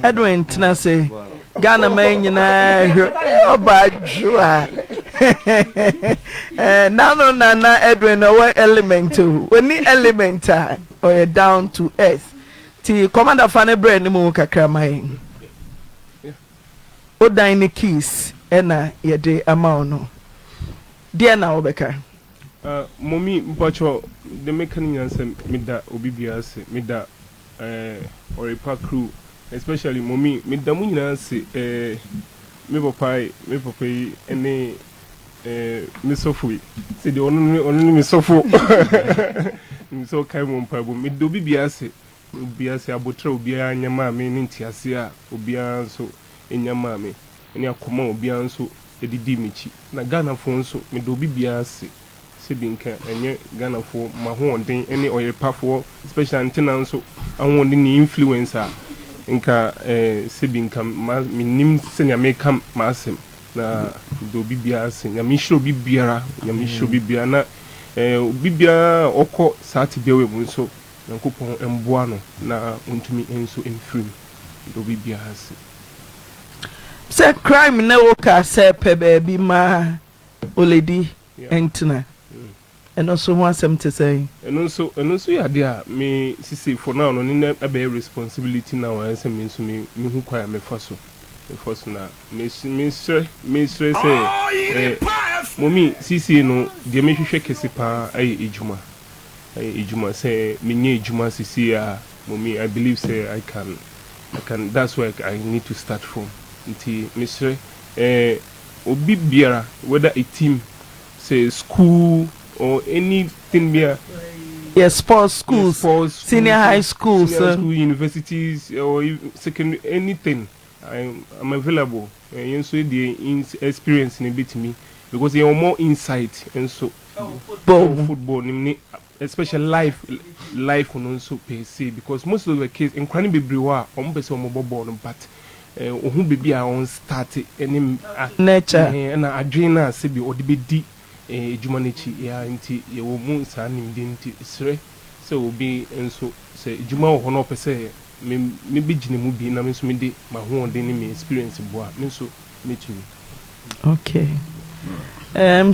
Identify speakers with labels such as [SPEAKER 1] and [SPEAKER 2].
[SPEAKER 1] Edwin Ntenase, Ghana man nyinaa hwɛ ɔbaa dwoa. Eh, nano nana Edwin na ɔwɔ element o. Oni element a ɔyɛ down to earth. Ti commander fa ne brɛ ne mu kakra ma yɛn. Odan ne keys ɛna yɛde ama wo no. Deɛ na wobɛka? Uh, mommy mpɔkyɔ de meka ne nyinaa sɛ meda obi biara ase meda Eh Oripa crew especially mommy me da mo nyinaa ase eh me papa yi me papa yi ne eh me sɔfo yi sɛ deɛ ɔno ne ɔno ne me sɔfo nim sɛ ɔkae mo mpaebɔ me da obi biara ase obiara ase abotrɛ obiara anya maa me ne ntease a obiara nso nya maa me ne akoma a obiara nso ɛde dii m'akyi na Ghanafoɔ nso me da obi biara ase Sebi nka ɛnyɛ Ghanafoɔ mahoɔden ne ɔyerepafoɔ special nti na nso ahoɔden ne influence a nka eh, sebi nka ma menim sɛnea meka m'asɛm na meda obi biara ase nyame nhyira obi biara nyame nhyira obi biara na eh, obi biara a ɔkɔ saa tebea wei mu nso nyankopɔn mboa no na ɔntumi nso mfiri mu meda obi biara ase. Sɛ crime na ɛwɔ car sɛ pɛ baabi ma. Oledi ntena. Ɛno nso ho asɛm te sɛn? Ɛno nso, ɛno nso yɛ adeɛ a me sisi for now no, ne na ɛbɛyɛ responsibility now ayɛ sɛ me nso mehu kwan a mɛfa so, mɛfa so na mesre, mesrɛ, mesrɛ sɛ eh, Mommy, seesei no, deɛ mehwehwɛ kɛse pa ara ɛyɛ adwuma, ɛyɛ adwuma, sɛ menya adwuma seesei a, Mommy, I believe sɛ I can, I can, that's where I need to start from, nti mesrɛ eh, Obi biara whether a team sɛ school or anything biara yɛ sports schools senior high schools senior high school universities or secondary anything I'm available yɛn nso yɛdeɛ experience no bɛtumi because yɛwɔ more insight nso wɔ football no mu ne Especially life life no nso per se because most of the case nkwadaa no bebree wɔ a wɔn pɛ sɛ wɔn bɔ bɔɔl no but eh, ohu baabi a wɔn start ɛne ah, Nature. eh, ɛna adwene no a sɛbi ɔde bɛdi eh, adwuma no akyi yeah, nti yɛwɔ mu saa nimdeɛ no nti serɛ sɛ obi nso sɛ adwuma wɔ hɔ na ɔpɛ sɛ me me bɛgyina mu bi na me nso mede m'ahoɔden ne me experience boa me nso mɛtumi. Okay. Um,